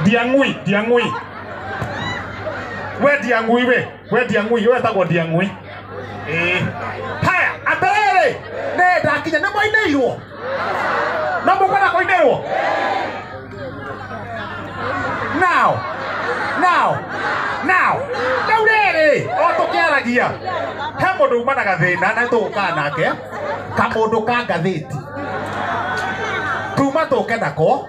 ndiang'ui ndiang'ui we ndiang'ui we we ndiang'ui we tagwo ndiang'ui Eh. haya atĩrĩrĩ nĩ ndakinya nĩ mwainĩirwo no mũkwenda kũinĩrwo now now now rĩu rĩrĩ o tũkĩaragia he mũndũ uma na gathĩna na tũgũkaa nake kamũndũ ka ngathĩti tuma tũke nako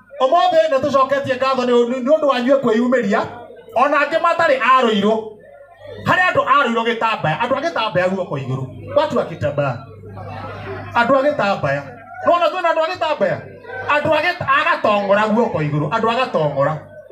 ũmũthĩ nĩ tũcoketie ngatho nĩ nĩ ũndũ wanyuĩ kwĩyumĩria ona angĩ matarĩ arũirũ harĩ andũ arũirũ gĩtambaya andũ a gĩtambaya guoko igũrũ watu a gĩtambaya andũ a gĩtambaya nona twĩna andũ a gĩtambaya andũ a gĩt- a gatongora guoko igũrũ andũ a gatongora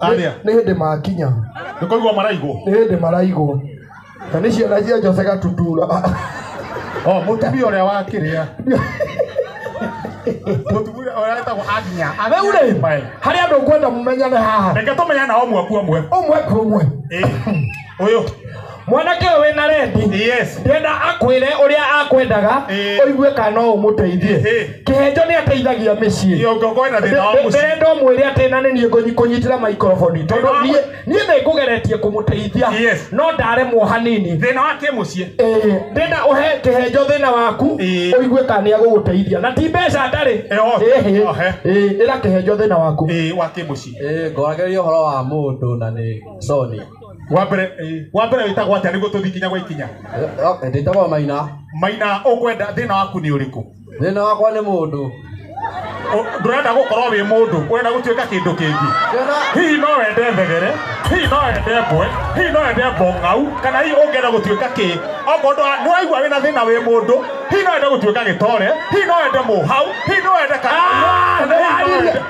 Arĩa? nĩ hĩndĩ makinya nä kå igua maraigwo nĩ hĩndĩ maraigwo na nĩ ciana cia jose gatutura o må tumia å rä a wakä rä a må tumia å rä a etagwo aginya rĩu rĩ harĩ andå ngwenda mũmenyane haha reke tå menyana o mwaku omwe ũmwe kwa ũmwe Ĩ, ũyũ mwanake ũyũ wĩna rendi Yes. ndenda akwĩre ũrĩa akwendaga Eh. ũigue kana no ũmũteithie Eh. kĩhenjo nĩ ateithagia mĩciĩ Ndio ungekuwa na thina wa mũciĩ. ndĩrenda ũmwĩre atĩ na nĩ niĩ ngũnyi- kũnyitĩra maikoroboni tondũ Thĩna wa niĩ niĩ nĩ ngũgeretie kũmũteithia Yes. no ndaremwo hanini Thina wa kä må ciä. Ĩĩ, ndĩna ũhe kĩhenjo thĩna waku Ĩĩ. ũigue kana nĩ agũgũteithia na ti mbeca ndarĩ Ĩho. Ĩhĩ. Ohe. Ĩĩ, ĩra kĩhenjo thĩna waku Wa kä må ciä. Ĩĩ, ngoragĩrĩria ũhoro wa mũndũ na nĩ soni wa mbere eh, wa mbere wĩtagwo atĩa nĩguo tũthiĩ kinya gwa ikinya ndĩtagwo maina maina ũkwenda thĩna waku nĩ ũrĩkũ thĩna wakwa nĩ mũndũ Ũ- ndũrenda gũkorwo wĩ mũndũ ũrenda gũtuĩka kĩndũ kĩngĩ Ngĩona hihi no wende thegere hihi no wende mbwe hihi no wende mbong'au kana hihi ũngĩenda gũtuĩka kĩ okorwo ndwa- nĩwaigua wĩna thĩna wĩ mũndũ hihi no wende gũtuĩka gĩtore hihi no wende mũhau hihi no wende kana- hihi no wende-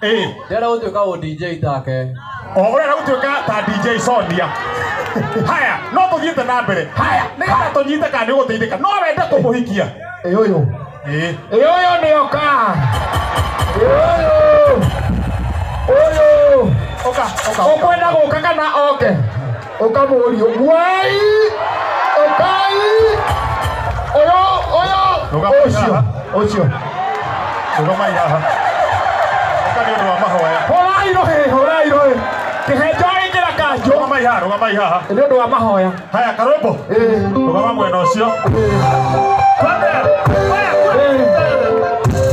Ĩĩ, ndĩrenda gũtuĩka ũ dj take o ũrenda gũtuĩka ta dj sonia haya no tũthiĩte na mbere haya nĩgetha tũnyite kana nĩ ũgũteithĩka no wende kũmũhikia ĩ ũyũ Ĩĩ. ĩ ũyũ nĩ oka ĩ ũyũ ũyũ ũka ũka ũkwenda gũka kana oke ukamurio wai ukai uyo uyo Rũgama ucio iraha. ucio Rũgama iraha. Ũka nĩ ũndũ wa mahoya. horai rohe horai rohe kihenjo ingira kanjo Rũgama ihaha, rũgama ihaha. ni undu wa mahoya Haya karũmbo. Eh, Rũgama mwena ũcio. eh, Twende. Haya, twende. eh.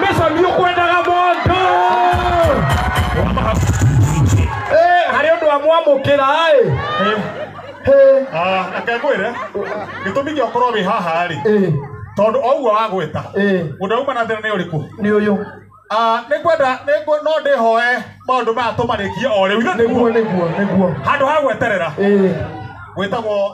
mesa mbi ukwendaga mũndũ Eh, harĩ ũndũ wa mwamũkĩra ĩ akekwĩre gĩtũmi gĩa ũkorwo wĩ haha rĩ ĩ tondũ oguo wagwĩta ĩ ũndũ auma na thĩna nĩ ũrĩkũ nĩ ũyũ Ah, nĩ kwenda nĩ ngwe- no ndĩhoe maũndũ maya tũmarĩkie o rĩu ithe nĩguo nĩguo nĩguo nĩguo handũ ha gweterera ĩ gwĩtagwo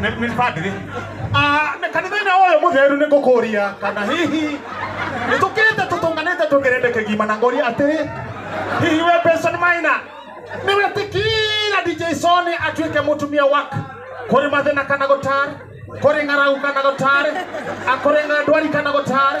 Nĩ- nĩ padri Ah, nĩ kanitha-inĩ ũyũ mũtheru nĩ ngũkũria kana hihi nĩ tũkĩte tũtũnganĩte tũgerete kĩgima na ngũria atĩrĩ hihi we Benson Maina nĩ wetĩkĩra DJ Sony atuĩke mũtumia waku kũrĩ mathĩna kana gũtarĩ kũrĩ ng'aragu kana gũtarĩ akũrĩ ndwari kana gũtarĩ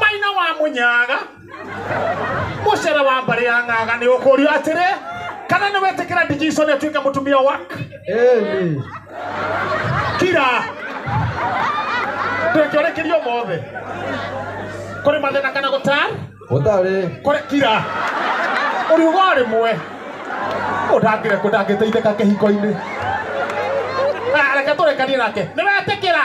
maina wa munyaga mucere wa mbari ya ng'aga ni ukurio atiri kana ni wetikira ndijisoni atuike mutumia wak Eli. kira ndũngĩũrĩkĩrio mothe kũrĩ mathĩna kana gũtar Gũtarĩ. kũrĩ kira ũriuga o rĩmwe ũndangĩre kũ ndangĩteithĩka kĩhiko-inĩ Ah, reke tũrekanie nake nĩ wetĩkĩra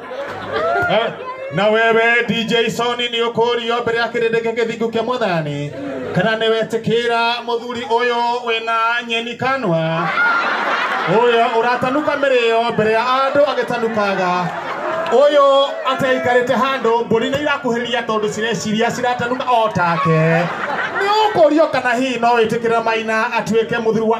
Eh, na wewe dj soni nĩ ũkũrio mbere ya kĩrĩndĩ gĩa gĩthingu kĩa mwathani kana nĩ wetĩkĩra mũthuri ũyũ wĩna nyeni kanwa ũyũ ũratanuka mĩrĩo mbere ya andũ agĩtanukaga ũyũ ateikarĩte handũ mbũri nĩ irakuhĩrĩria tondũ cireciria ciratanuka o take nĩ ũkũrio kana hihi no wĩtĩkĩre maina atuĩke mũthuri wa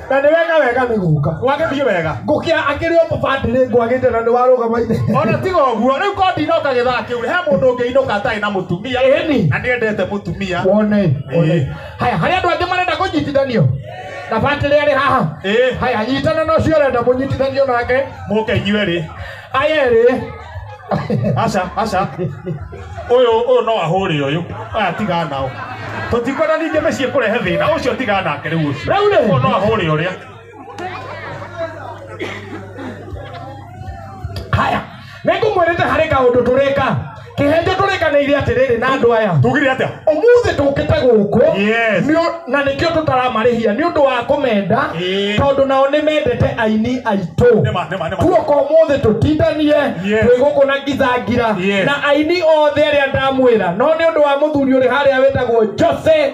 na nĩ wega wega nĩ gũka gwagĩthiĩ wega ngũkĩa akĩrĩ o mũbandĩrĩ ngwagĩte na nĩ warũgama ithe ona tiga ũguo rĩu ko ndinoka gĩthaa kĩu he mũndũ ũngĩ inũka atarĩ na mũtumia Ĩni. na nĩendete mũtumia wone wone. Ĩĩ. haya harĩ andũ angĩ marenda kũnyitithanio na batĩrĩ arĩ haha Ĩĩ. haya nyitana na ũcio ũrenda mũnyitithanio nake mũke inyuerĩ aya erĩ aca aca ũyũ ũyũ no ahũre ũyũ aya tiga nao tũtikwenda ningĩ mĩciĩ kũrehe thĩna ũcio tiga nake rĩu ũcio Rĩu rĩ? ũyũ no ahũre ũrĩa haya nĩngũmwĩrĩte harĩ kaũndũ tũrĩka kĩhĩndĩ tũrĩkanĩire atĩrĩrĩ na andũ aya tugire atia ũmũthĩ tũkĩte gũkũ Yes. nĩ ũ- na nĩkĩo tũtaramarĩhia nĩ ũndũ wa kũmenda Ĩĩ. tondũ nao nĩ mendete aini aitũ Nĩma, nĩma, nĩma. kuoka ũmũthĩ tũtindanie Yes. twĩ gũkũ na ngithangira Yes. na aini othe arĩa ndamwĩra no nĩ ũndũ wa mũthuri ũrĩ harĩa wĩtagwo jose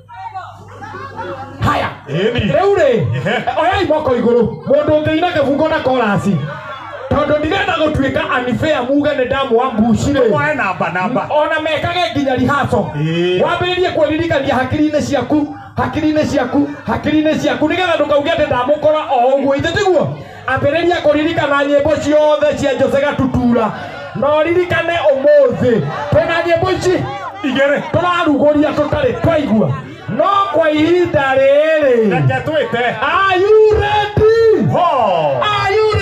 haya Ĩni. rĩu rĩ Ehe. oyai moko igũrũ mũndũ ũngĩina kĩbungo na korasi tondũ ndirenda gũtuĩka anifea muge nĩ ndamũwa mbucirĩ Mwae namba namba. ona mekage nginya rihaco Ĩĩ. wambĩrĩrie kwĩririkania hakiri-inĩ ciaku hakiri-inĩ ciaku hakiri-inĩ ciaku nĩgetha ndũkauge atĩ ndamũkora o ũguo ithe tiguo Ambĩrĩria kũririkana nyĩmbo ciothe cia Jose Gatutura na ũririkane ũmũthĩ twĩna nyĩmbo ici igĩrĩ tũrarugũria tũtarĩ twaigua no kwa ihinda rĩrĩ Reke twĩte. Are you ready? Ho! Are you ready?